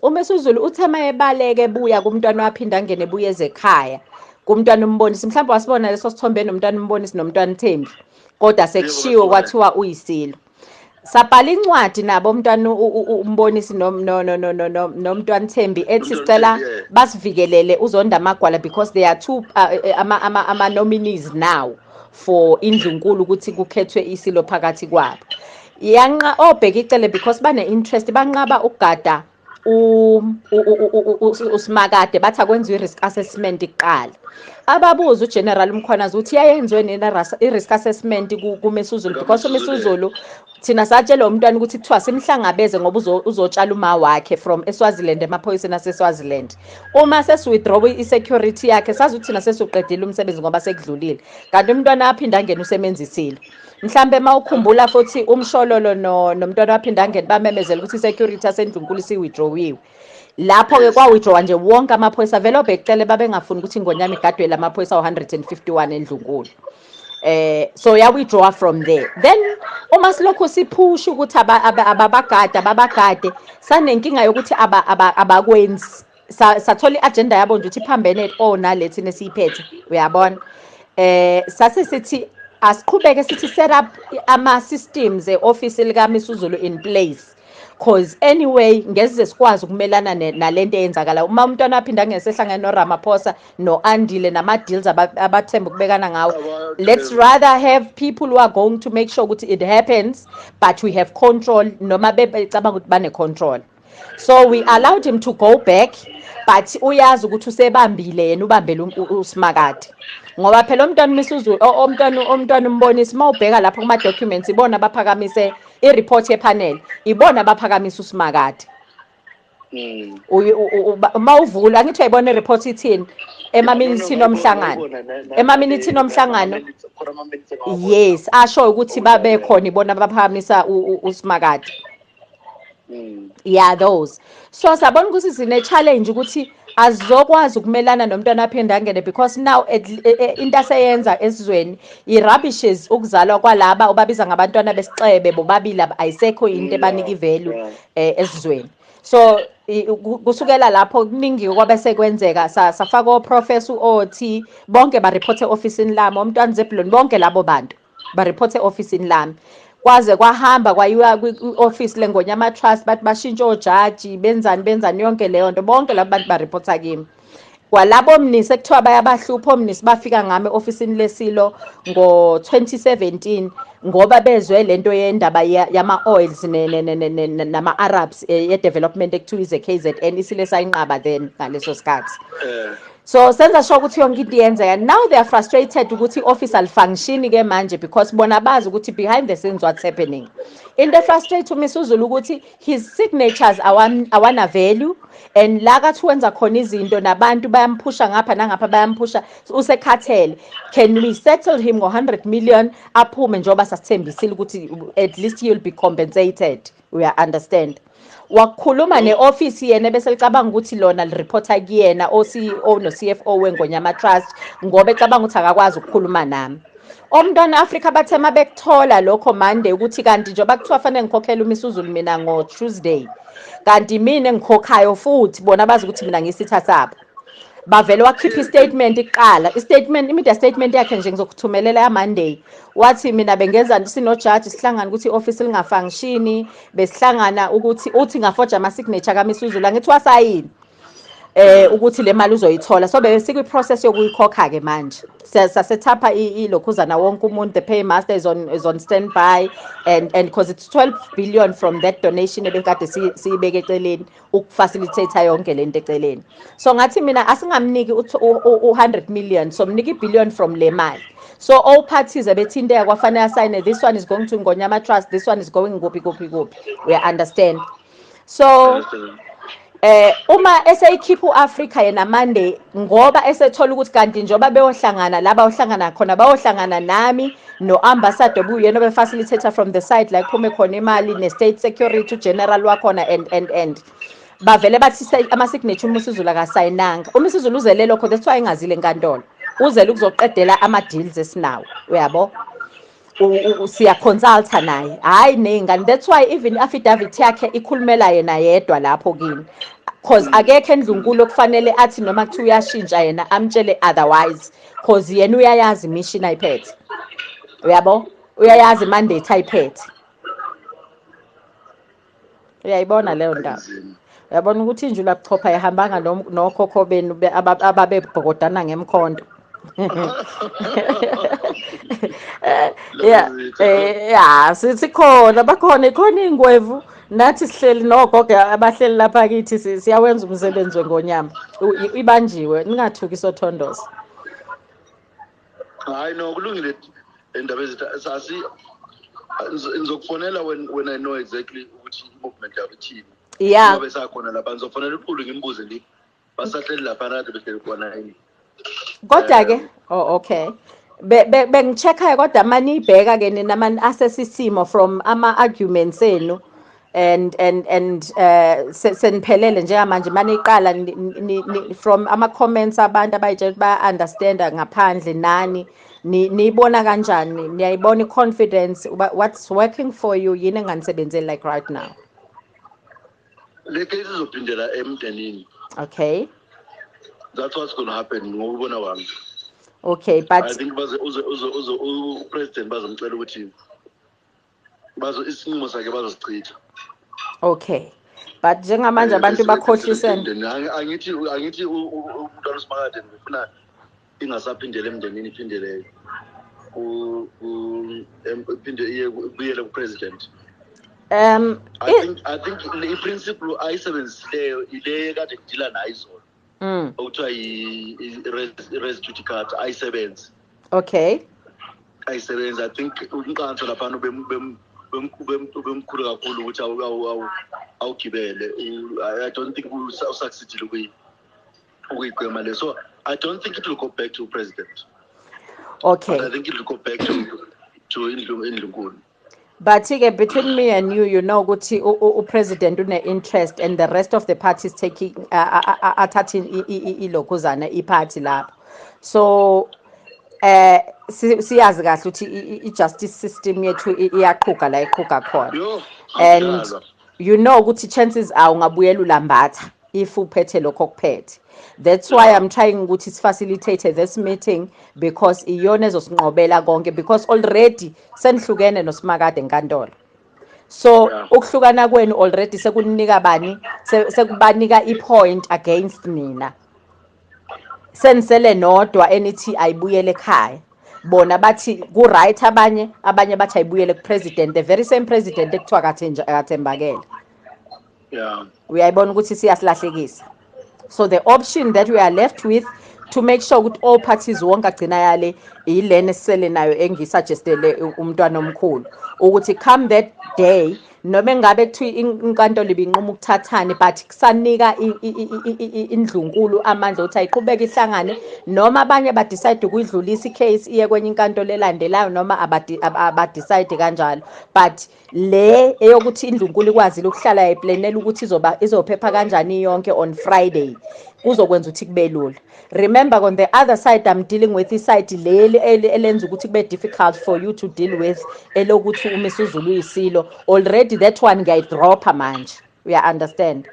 uMesuzulu uthe mayebaleke ebuya kumntwana waphinde angene ebuya ezekhaya kumntwana umbonisi mhlawumbe wasibona leso sithombe nomntwana umbonisi nomntwana uthembi kodwa sekushiwo kwathiwa uyisilo sabhala incwadi nabo umntwana umbonisi nomntwana Thembi ethi sicela basivikelele uzonda amagwala because they are two uh, eh, ama nominees now for indlunkulu ukuthi kukhethwe isilo phakathi kwabo yanqa obheka icele because bane interest banqaba ukugada usimakade bathi akwenziwe i-risk assessment kuqala ababuza ugeneral umkhwanazi ukuthi yayenziwe nina i-risk assessment kumesuzulu because umesuzulu thina satshela umntwana ukuthi kuthiwa simhlangabeze ngoba uzotshala uma wakhe from eswaziland emaphoyiseni aseswaziland uma sesiwithdraw i-security yakhe sazi ukuthi thina sesiwuqedile umsebenzi ngoba sekudlulile kanti umntwana aphinde angene usebenzisile mhlambe mawukhumbula futhi umshololo no nomntwana waphinde angene bamemezela ukuthi security asendlunkulu siwithdrawiwe lapho ke kwawithdrawa nje wonke amaphoyisa vele obhekicele babengafuni ukuthi ingonyama igadwe lamaphoyisa 151 endlunkulu eh so ya withdraw from there then uma silokho siphusha ukuthi ababagade ababagade sanenkinga yokuthi abakwenzi sathola i-agenda yabo nje ukuthi iphambene o oh, nale thina esiyiphethe uyabona eh sase sithi asiqhubeke sithi set up ama-systems e-ofisi likaMisuzulu in place cause anyway ngeze sikwazi ukumelana nalento eyenzakala uma umntwana aphinda ngesehlangene noRamaphosa noAndile nama deals abathemba ukubekana ngawo let's rather have people who are going to make sure ukuthi it happens but we have control noma bebecabanga ukuthi bane control so we allowed him to go back but uyazi ukuthi usebambile yena ubambele usimakade ngoba phela umntwana umisuzu omntwana umntwana umbonisa uma ubheka lapho kuma documents ibona baphakamise i report ye panel ibona baphakamisa usimakade Mm. uma uvula angithi uyayibona ireport ithini emaminithini omhlangano emaminithini omhlangano yes asho ukuthi babekhona ibona baphakamisa usimakade Mm. yeah those so sabona ukuthi sine-challenge ukuthi azizokwazi ukumelana nomntwana aphinde angene because now e, e, into aseyenza esizweni i-rubbishes ukuzalwa kwalaba ubabiza ngabantwana besixebe bobabili ayisekho into ebanika ivalue um eh, esizweni so kusukela lapho kuningi kwabe sekwenzeka safaka oprofesa u-ot bonke barephothe e-ofisini lami omntwana zebhuloni bonke labo bantu bariphothe e-ofisini lami kwaze kwahamba kwayiwa kwi-ofisi lengonyama trust bathi bashintshe ojaji benzani benzani yonke leyo nto bonke laba bantu bariphotha kimi kwalabo omnisi ekuthiwa bayabahlupha omnisi bafika ngami e-ofisini lesilo ngo-2017 ngoba bezwe le nto yendaba yama-oils nama-arabs eh, ye-development ekuthiwa ize-k z n isile sayinqaba then ngaleso sikhathi eh. so senza sure ukuthi yonke into iyenzeka now they are frustrated ukuthi i-office alifangishini ke manje because bona bazi ukuthi behind the scenes what's happening into efrustrate umiss uzulu ukuthi his signatures awana value and la kathi wenza khona izinto nabantu bayamphusha ngapha nangapha bayamphusha usekhathele can we settle him ngo-100 million aphume njengoba sasithembisile ukuthi at least you'll be compensated uya-understand wakhuluma ne-ofisi yena ebese licabanga ukuthi lona lireporta kuyena o-ceo no-cfo wengonyama trust ngoba ecabanga ukuthi akakwazi ukukhuluma nami omntwana afrika bathe uma bekuthola lokho monday ukuthi kanti njengoba kuthiwa fanele ngikhokhele umisuzulu mina ngo-tuesday kanti mina engikhokhayo futhi bona bazi ukuthi mina ngisitha sabo bavele wakhipha istatement kuqala istatement imedia statement yakhe nje ngizokuthumelela yamonday wathi mina bengenza sinojaji sihlangana ukuthi i-ofisi lingafangishini besihlangana ukuthi uthi ngafoja ama-signature kamisuzulu angithi wasayini eh ukuthi le mali uzoyithola so besikwi process yokuyikhokha ke manje sasethapha ilokhuzana wonke umuntu the paymaster is on is on standby and and because it's 12 billion from that donation ebekade siyibeke eceleni ukufacilitator yonke lento eceleni so ngathi mina asingamniki u-100 million so mnika i-billion from le mali so all parties ebethinteka kwafanele asayine this one is going to ngonyama trust this one is going kuphi kuphi kuphi we understand so eh uma eseyikhipha uAfrica yena Monday ngoba esethola ukuthi kanti njoba beyohlangana laba ohlangana khona bayohlangana nami no-ambassador obuyena obefacilitator from the side la kuphume khona imali ne-state security ugeneral wakhona and and and bavele bathi ama-signature uma usizulu akasayinanga uma isizulu uzele lokho that's why engazile enkantolo uzele ukuzoqedela ama-deals esinawo uyabo siyaconsulta naye hhayi ney'ngane that's why even i-affidavit yakhe ikhulumela yena yedwa lapho kini cause akekho endlunkulu okufanele athi noma kuthiwa uyashintsha yena amtshele otherwise cause yena uyayazi imishini ayiphethe uyabo uyayazi mandate ayiphethe uyayibona leyo ndaba uyabona ukuthi injula buchopha ihambanga nokhokho benu ababebhokodana ngemkhonto ya eh, ya sikhona bakhona ikhona iy'ngwevu nathi sihleli nogogo abahleli lapha kithi siyawenza umsebenzi wengonyama ibanjiwe ningathuki sothondoza hayi no kulungile indaba ezithathi ngizokufonela when when i know exactly ukuthi i-movement yakho ithini yeah ngoba esakhona lapha ngizofonela uqulu ngimbuze ngithi basahleli lapha kade behleli khona yini kodwa ke oh okay bengicheckayo kodwa maniyibheka ke nina mani asesisimo from ama arguments enu and and and uh seniphelele njengamanje maniqala from ama comments abantu abayitshela ukuthi baya understand ngaphandle nani niyibona kanjani niyayibona i confidence what's working for you yini enganisebenzeli like right now le case izophindela emndenini okay that's what's going to happen ngokubona kwami okay but i think baze uze uze uze upresident bazomcela ukuthi bazo isinqumo sakhe bazosichitha okay but njengamanje eh, abantu bakhohlisene angithi angithi umntwana usimakade ngifuna ingasaphindela emndenini iphindele iphinde iye kubuyele kupresident um i think i think i-principle ayisebenzileyo ile kade ngidila nayo izolo mm. okuthiwa i-res judicata ayisebenzi okay ayisebenzi i think umqanso laphana ubemkhulu kakhulu ukuthi awugibele i don't think usucceedile kuyi ukuyigwema le so i don't think it will go back to president okay but i think it will go back to to indlu indlunkulu but-ke between me and you you know ukuthi upresident une-interest and the rest of the party is taking athathe ilokhuzana iphathi lapho so eh siyazi kahle ukuthi i-justice system yethu iyaqhuga la iqhuga khona and you know ukuthi chances are ungabuyela ulambatha if uphethe lokho kuphethe that's why i'm trying ukuthi sifacilitate this meeting because iyona ezosinqobela konke because already senihlukene nosimakade enkantolo so ukuhlukana kwenu already sekunika bani sekubanika ipoint against nina senisele nodwa enithi ayibuyele ekhaya bona bathi ku-right abanye abanye bathi ayibuyele kupresident the very same president ekuthiwa kathembakele yeah uyayibona ukuthi siyasilahlekisa so the option that we are left with to make sure ukuthi all parties wonke agcina yale yilena esisele nayo engisuggestele umntwana omkhulu ukuthi come that day noma engabe kuthiwa inkantolo ibinquma ukuthathane but kusanika indlunkulu amandla ukuthi ayiqhubeke ihlangane noma abanye badecide ukuyidlulisa icase iye kwenye inkantolo elandelayo noma abadecide kanjalo but le eyokuthi indlunkulu ikwazile ukuhlala eplanela ukuthi izoba izophepha kanjani yonke on friday kuzokwenza ukuthi kube lula remember on the other side i'm dealing with iside leli elenza ukuthi kube difficult for you to deal with elokuthi umisuzulu uyisilo already that one ngiyayidropha manje uya understand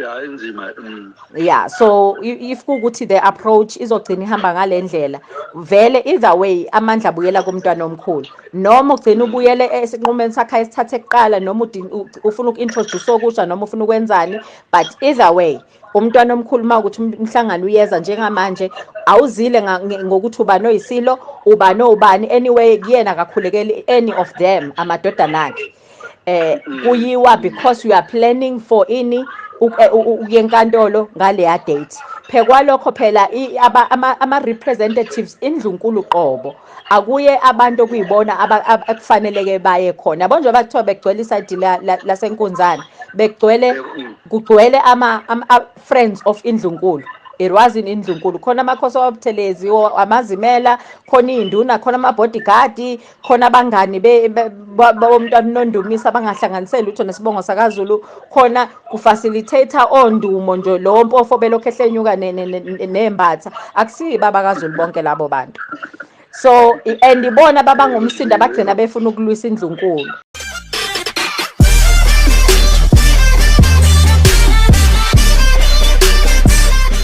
ya inzima mm. ya so if kukuthi the approach izogcina ihamba ngale ndlela vele either way amandla abuyela kumntwana omkhulu noma ugcina ubuyele esinqumeni sakhe esithathe kuqala noma ufuna uku-introduce okusha noma ufuna ukwenzani but either way umntwana omkhulu uma ukuthi um-, umhlangano uyeza njengamanje awuzile ngokuthi ubani oyisilo ubani owubani anyway kuyena akakhulekeli any of them amadodana akhe eh mm. kuyiwa because you are planning for ini eh, ukuya enkantolo ngaleya date phekwalokho phela ama representatives indlunkulu qobo akuye abantu okuyibona akufaneleke baye khona yabo njengoba kuthiwa begcwele isayidi lasenkunzane begcwele mm. kugcwele ama friends of indlunkulu erwazini indlunkulu khona amakhosi awabuthelezi amazimela khona iy'nduna khona ama-bodyguard khona abangani bomntwana unondumisa abangahlanganiseli lutho nesibongo sakazulu khona kufacilitator ondumo nje lowo mpofo belokhu ehlenyuka nembatha akusiyi baba kazulu bonke labo bantu so and ibona babangumsindo abagcina befuna ukulwisa indlunkulu